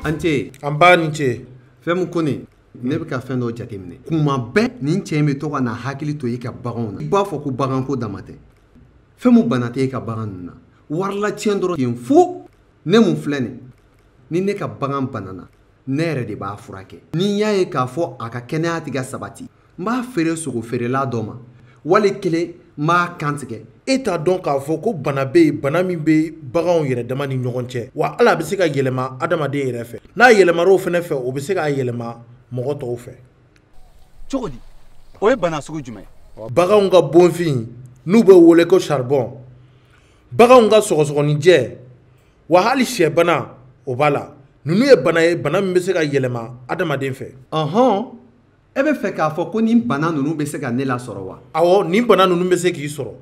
an ce nba i ni ce fɛn min ko nin ne bɛ ka fɛn dɔ jateminɛ kuma bɛɛ nin cɛ in bɛ to ka na hakili to i ka baganw na i b'a fɔ ko baganko dama tɛ fɛn min bana tɛ e ka bagan ninnu na warilatiɲɛ dɔrɔn ten fo ne min filɛ nin ni ne ka bagan banana ne yɛrɛ de b'a furakɛ ni n y'a ye k'a fɔ a ka kɛnɛya tɛ ka sabati n b'a feere sogo feerela dɔ ma wali kelen n b'a kantigɛ e t'a dɔn k'a fɔ ko bana bɛ yen bana min bɛ baganw yɛrɛ dama ni ɲɔgɔn cɛ wa hali a bɛ se ka yɛlɛma adamaden yɛrɛ fɛ n'a yɛlɛmara o fana fɛ o bɛ se k'a yɛlɛma mɔgɔ tɔw fɛ cogo di o ye bana sugu jumɛn ye baganw ka bonfin n'o bɛ wele ko charbon baganw ka sɔgɔsɔgɔninjɛ wa hali syɛbana o b'a la ninnu ye bana ye bana min bɛ se ka yɛlɛma adamaden fɛ ɔhɔn e bɛ fɛ k'a fɔ ko nin bana ninnu bɛ se ka ne lasɔrɔ wa awɔ nin bana ninnu bɛ se k'i sɔrɔ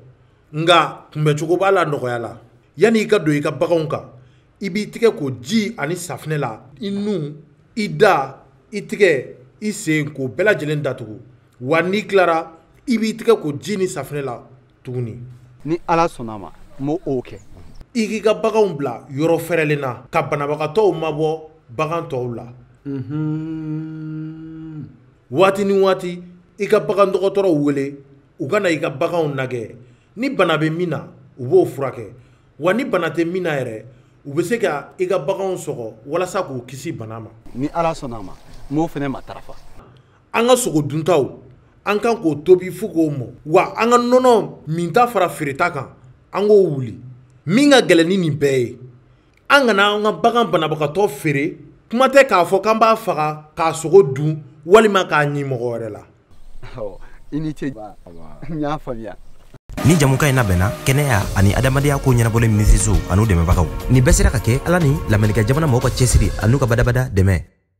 nka kunbɛcogo b'a la nɔgɔya la yanni i ka don i ka baganw kan i b'i tɛgɛ ko ji ani safinɛ la i nun i da i tɛgɛ i sen k'o bɛɛ lajɛlen datugu wa n'i tilara i b'i tɛgɛ ko ji ni safinɛ la tuguni ni ala sɔnna a ma n b'o kɛ i k'i ka baganw bila yɔrɔ fɛrɛlen na ka banabagatɔw mabɔ bagan tɔw la waati ni waati i ka bagan dɔgɔtɔrɔw wele u ka na i ka baganw lajɛ ni bana bɛ min na u b'o furakɛ wa ni bana tɛ min na yɛrɛ u bɛ se ka i ka baganw sɔgɔ walasa k'u kisi bana ma ni ala sɔnna a ma n b'o fana matarafa an ka sogo duntaw an kan k'o tobi fo k'o mɔ wa an ka nɔnɔ minta fara feereta kan an k'o wuli min ka gɛlɛn ni nin bɛɛ ye an kana an ka bagan banabagatɔ feere kuma tɛ k'a fɔ k'an b'a faga k'a sogo dun walima k'a ni mɔgɔ wɛrɛ la i ni ce n y'a faamuya nin jɛmukan in labɛnna kɛnɛya ani adamadenya ko ɲɛnabɔli minisiriso an'u dɛmɛbagaw nin bɛɛ sera ka kɛ ala ni lamerikɛn jamana mɔgɔw ka cɛsiri an'u ka badabada dɛmɛ